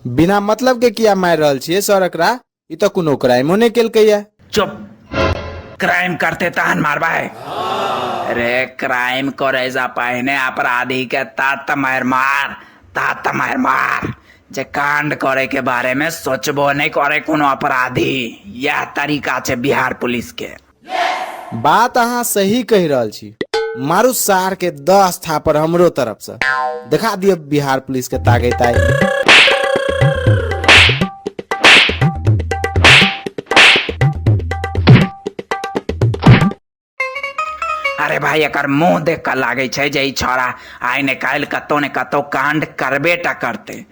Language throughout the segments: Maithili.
बिना मतलब के किया मारि रहल छियै सर एकरा ई तऽ कोनो क्राइमो नहि केलकैया चुप क्राइम करते तहन मारबै अरे क्राइम करे से पहिने अपराधी के तात मार मार तात मार मार जे कांड करे के बारे में सोचबो नहीं करे कोनो अपराधी यह तरीका छै बिहार पुलिस के बात अहाँ सही कहि रहल छी मारू सार के दस थापर हमरो तरफ से देखा दियो बिहार पुलिस के तागे ताई अरे भाई एकर मुंह देख कर लागे छै जे ई छोरा आइ ने काल्हि कतौ ने कतौ कांड करबे टा करते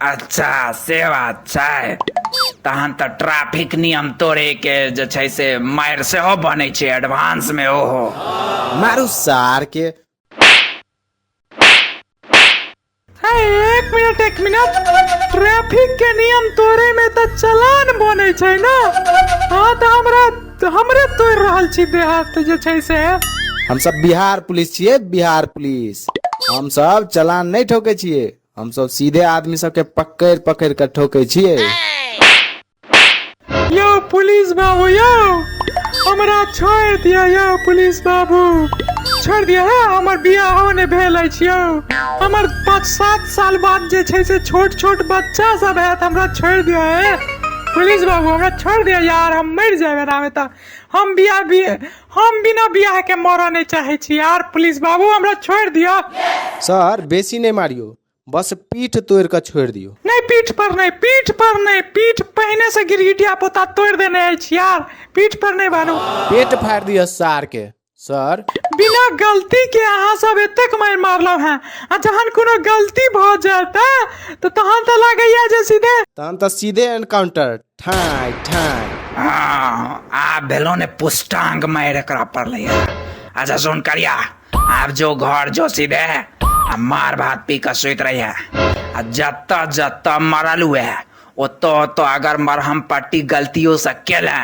अच्छा से बात छै तहन तऽ ट्रैफिक नियम तोड़े के जे छै से मार सेहो बनै छै एडवांस मे ओहो मारू सार के है एक मिनट एक मिनट ट्रैफिक के नियम तोड़े में त चलान बने छै ना हाँ त हमरा हमरे तोड़ रहल छी देहात जे छै से हम सब बिहार पुलिस छिए बिहार पुलिस हम सब चलान नहीं ठोके छिए हमसब सीधे आदमी सबके पकड़ि पकड़ि कऽ ठोकै छियै यौ पुलिस बाबू यौ हमरा छोड़ि दिअ यौ पुलिस बाबू छोड़ि दिअ हे हमर बियाहो नहि भेल अछि यौ हमर पाँच सात साल बाद जे छै से छोट छोट बच्चा सब हैत हमरा छोड़ि दिअ हे पुलिस बाबू हमरा छोड़ि दिअ यार हम मरि जायब एनामे तऽ हम बियाह भी हम बिना बियाह के मरऽ नहीं चाहे छी यार प्लीज बाबू हमरा छोड़ दियो सर बेसी नहीं मारियो बस पीठ तोड़ के छोड़ दियो नहीं पीठ पर नहीं पीठ पर नहीं पीठ पहने से गिरगिटिया पोता तोड़ देने अछि यार पीठ पर नहीं बाबू पेट फाड़ दियो सार के सर बिना गलती के अहाँ सब एतेक मारि मारलहुँ हैं आ जहन कोनो गलती भऽ जाता तऽ तहन तऽ लागैया जे सीधे तहन तऽ सीधे एनकाउंटर ठाई ठाई हँ आब भेलो ने पुष्टांग मारि एकरा पड़लै है अच्छा सुन करिया आब जो घर जो सीधे आ मार भात पी कऽ सुति रहिहे आ जतऽ जतऽ मरल हुए ओतो ओतो अगर मरहम पट्टी गलतियो से केले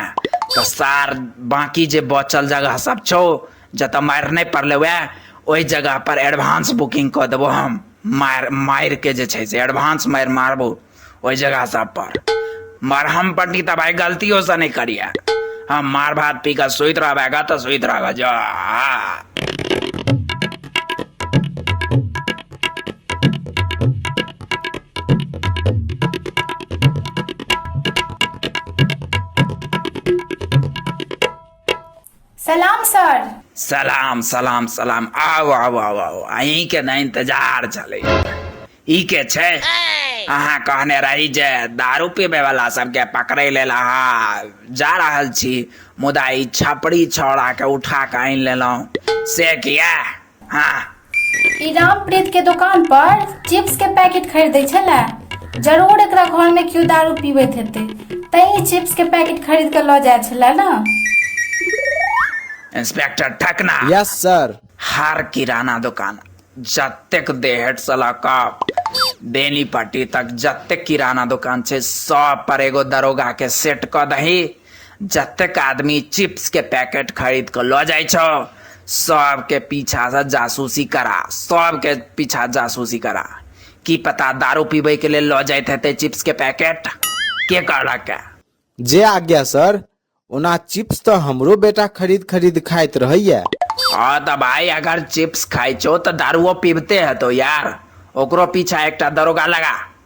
तो सार बाकी जे बचल जगह सब छो जत मार नहीं पड़ले वह ओहि जगह पर एडवांस बुकिंग कर देव हम मार मार के जे से एडवांस मार मारबो ओहि जगह सब पर मरहम पट्टी तो भाई गलतियों से नहीं करिए हम मार भात पी कर सुत रहेगा तो सुत रहेगा जो सलाम सर सलाम सलाम सलाम आउ आउ आउ आउ अहीं के ने इंतजार चले ई के छै अहाँ कहने रही जे दारू पीबे वाला सबके पकड़े लेल अहाँ जा रहल छी मुदा ई छपरी छौड़ा के उठा के आनि लेलहुँ से किया ई रामप्रीत के दुकान पर चिप्स के पैकेट खरीदै छले जरूर एकरा घर में क्यों दारू पीबैत हेतै तैं ई चिप्स के पैकेट खरीद के लऽ जाइ छले ने इंस्पेक्टर ठकना यस सर हर किराना दुकान जतेक देहट से लऽ कऽ बेनीपट्टी तक जतेक किराना दुकान छै सब पर एगो दरोगा के सेट कऽ दही जतेक आदमी चिप्स के पैकेट खरीद के लऽ जाइ छौ सब के पीछा से जासूसी करा सब के पीछा जासूसी करा की पता दारू पीबे के लेल लऽ जाइत हेतै चिप्स के पैकेट के कहलक है? जे आज्ञा सर ओना चिप्स तऽ हमरो बेटा खरीद खरीद खाइत रहैया हाँ तऽ भाई अगर चिप्स खाइ छौ तऽ दारुओ पीबते हेतौ यार ओकरो पीछा एकटा दरोगा लगा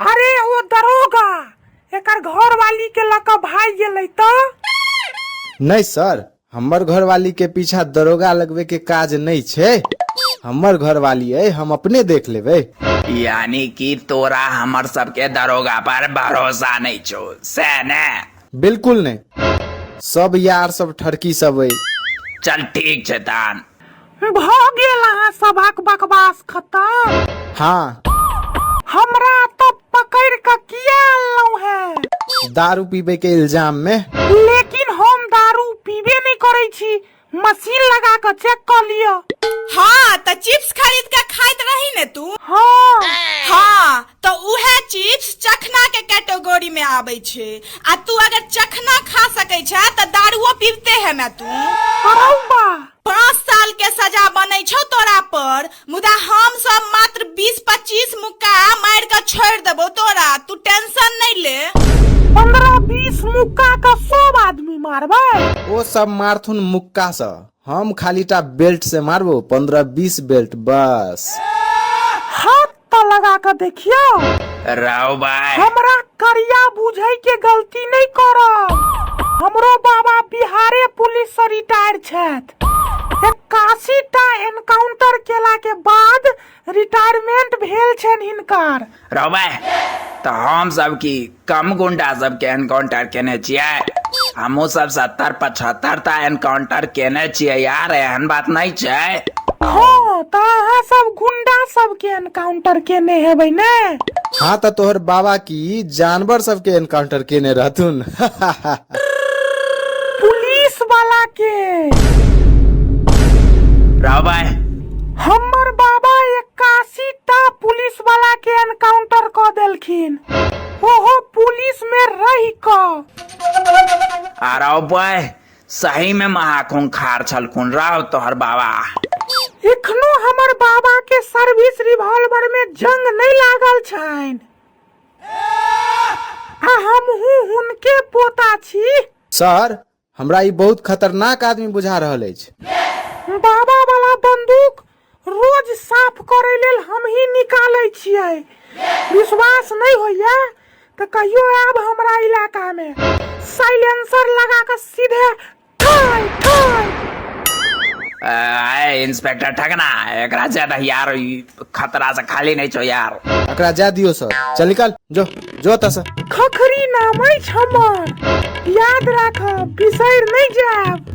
अरे ओ दरोगा एकर घर वाली के लका भाई गेलै त नहीं सर हमर घरवाली के पीछा दरोगा लगवे के काज नहीं छे हमर घरवाली है हम अपने देख लेबे यानी कि तोरा हमर सबके दरोगा पर भरोसा नहीं छो से ने बिल्कुल नहीं सब यार सब ठरकी सब है चल ठीक छै तान भ गेल अहाँ सभक बकवास खत्म हाँ हमरा तो पकड़ के किया अनलौ है दारू पीबे के इल्जाम में लेकिन हम दारू पीबे नहीं करे छी मशीन लगा के चेक कर लियो हाँ तो चिप्स खरीद के खाइत रही ने तू हाँ हाँ तो उहे चिप्स चखना के कैटेगरी में आबै छै आ तू अगर चखना खा सकै छै तऽ दारुओ पीबते है ना तू अरौ बा पाँच साल के सजा बनै छौ तोरा पर मुदा हम सब मात्र बीस पच्चीस मुक्का मार के छोड़ देबो तोरा तू टेंशन नहीं ले पंद्रह बीस मुक्का का सब आदमी मारबे ओ सब मारथुन मुक्का से हम खालीटा बेल्ट से मारबो पंद्रह बीस बेल्ट बस हाथ पत्ता लगा के देखियो राव भाई हमरा करिया बुझे के गलती नहीं करब हमरो बाबा बिहारे पुलिस से रिटायर छथि इक्यासी टा एनकाउंटर केला के बाद रिटायरमेंट भेल छनि हिनकर राव भाई तो हम सब की कम गुंडा सबके एनकाउंटर केने छियै हमहू सब सत्तर पचहत्तर टा एनकाउंटर केने छियै यार एहन बात नहीं छै हाँ तो अहाँ सब गुंडा सबके एनकाउंटर केने हेबै ने हाँ तो तोहर बाबा की जानवर सबके एनकाउंटर केने रहथुन पुलिस वाला के रहो भाई हम्मर बाबा एक्कासी टा पुलिस वाला के एनकाउंटर क देलखिन ओहो पुलिस में रह क अरे बय सही में महाकुंग खार छलकुन राव तोहर बाबा एखनो हमर बाबा के सर्विस रिवॉल्वर में जंग नहीं लागल छैन आ हमहू हुनके पोता छी सर हमरा ई बहुत खतरनाक आदमी बुझा रहल अछि बाबा वाला बंदूक रोज साफ करे लेल हम ही निकाले छिए विश्वास नहीं होइया तो कहियो आब हमरा इलाका में साइलेंसर लगा के सीधे ठाई ठाई इंस्पेक्टर ठगना एक राज्य यार खतरा से खाली नहीं छो यार एकरा जा दियो सर चल निकाल जो जो एतऽ से खखरी नाम अछि हमर याद राखब बिसरि नहि जायब